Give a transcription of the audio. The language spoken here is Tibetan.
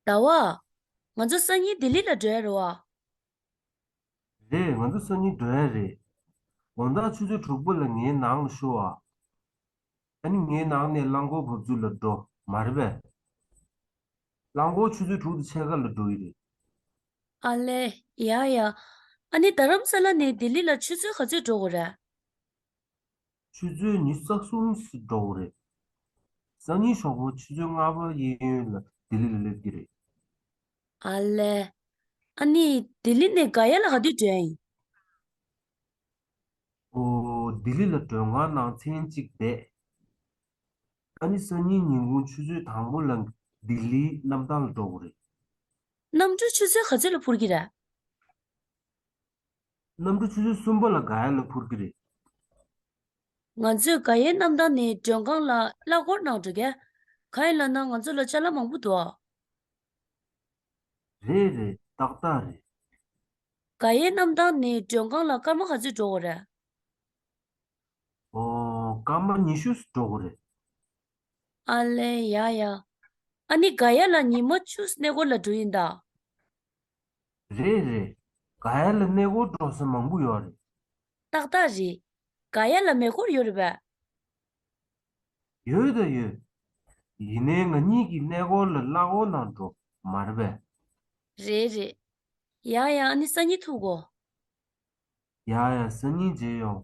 ཟླ་བ། ང་ཚོ་སང་ཉིན་ལྡི་ལི་ལ་འགྲོ་ཡ་རེད་བ། རེད། ང་ཚོ་སང་ཉིན་འགྲོ་ཡ་རེད། དགོང་དག་ཆུ་ཚོད་དྲུག་པོ་ལ་ངའི་ནང་ལ་ཤོ་ཨ། ཨ་ནི་ངའི་ནང་ནས་རླངས་འཁོར་བབས་ཚུལ་ལ་འགྲོ། མ་རེད་པས། རླངས་འཁོར་ཆུ་ཚོད་དྲུག་དེ་ཕྱེད་ཀ་ལ་འགྲོ་ཡི་རེད། ཨ་ལས། ཡ་ཡ། ཨ་ནི་རྡ་རམ་ས་ལ་ནས་ལྡི་ལི་ལ་ཆུ་ཚོད་ག་ཚོད་འགྲོ་དགོས་རེད། ཆུ་ཚོད་ཉིས་བརྩེགས་གསུམ་ཞིག་འགྲོ་འོང་རེད། སང་ཉིན་ཞོགས་པ་ཆུ་ཚོད་ལྔ་པར་གཡས་གཡོན་ལ་ལྡི་ལི་ལ་སླེབས་ཀྱི་རེད། ཨ་ལེ། ཨ་ནི་ལྡི་ལི་ནས་དགའ་ཡ་ལ་ག་དུས་བྲོས་ཡིན། ཨོ། ལྡི་ལི་ལ་བྲོས་སྔ་ནང་ཚན་གཅིག་བསྡད། ཨ་ནི་སང་ཉིན་ཉིན་གུང་ཆུ་ཚོད་དང་པོ་ལ་ལྡི་ལིའི་གནམ་ཐང་ལ་འགྲོ་འོང་རེད། གནམ་གྲུ་ཆུ་ཚོད་ག་ཚོད་ལ་འཕུར་གྱི་རེད། གནམ་གྲུ་ཆུ་ཚོད་གསུམ་པ་ལ་ག་ཡ་ལ་འཕུར་གྱི་རེད། ང་ཚོས་ག་ཡའི་གནམ་ཐང་ནས་མགྲོན་ཁང་ལ་གླ་འཁོར་ནང་འགྲོ་སྐད། ག་ཡའི་ལ་ནང་ང་ཚོ་ལ་བཅའ་ལ་མང་པོ་འདུག་ཨ། རེད་རེད་ཏག་ཏག་རེད། ག་ཡའི་གནམ་ཐང་ནས་མགྲོན་ཁང་ལ་སྐར་མ་ག་ཚོད་འགྲོ་འོ་རེད། ཨོ། སྐར་མ་ཉི་ཤུ་ཟིག་འགྲོ་འོ་རེད། ཨ་ལེ་ཡ་ཡ། ཨ་ནི་ག་ཡ་ལ་ཉི་མ་བཅུ་ཟིག་གནས་སྐོར་ལ་འགྲོ་ཡིན་ད། རེད་རེད། དགའ་ཡ་ལ་གནས་སྐོར་འགྲོ་སའི་མང་པོ་ཡོད་རེད། ཏག་ཏག་རེད། དགའ་ཡ་ལ་མེ་སྐོར་ཡོད་རེད་པ། ཡོད་ད་ཡོད། ཡིན་ནའི་ང་གཉིས་ཀྱིས་གནས་སྐོར་ལ་གླ་འོག་ནང་འགྲོ་མ་རེད་པས། རེད་རེད། ཡང་ཡང་ཨ་ནི་སང་ཉིན་ཐུག་གོ། ཡ་ཡ་སང་ཉིན་མཇལ་ཡོང།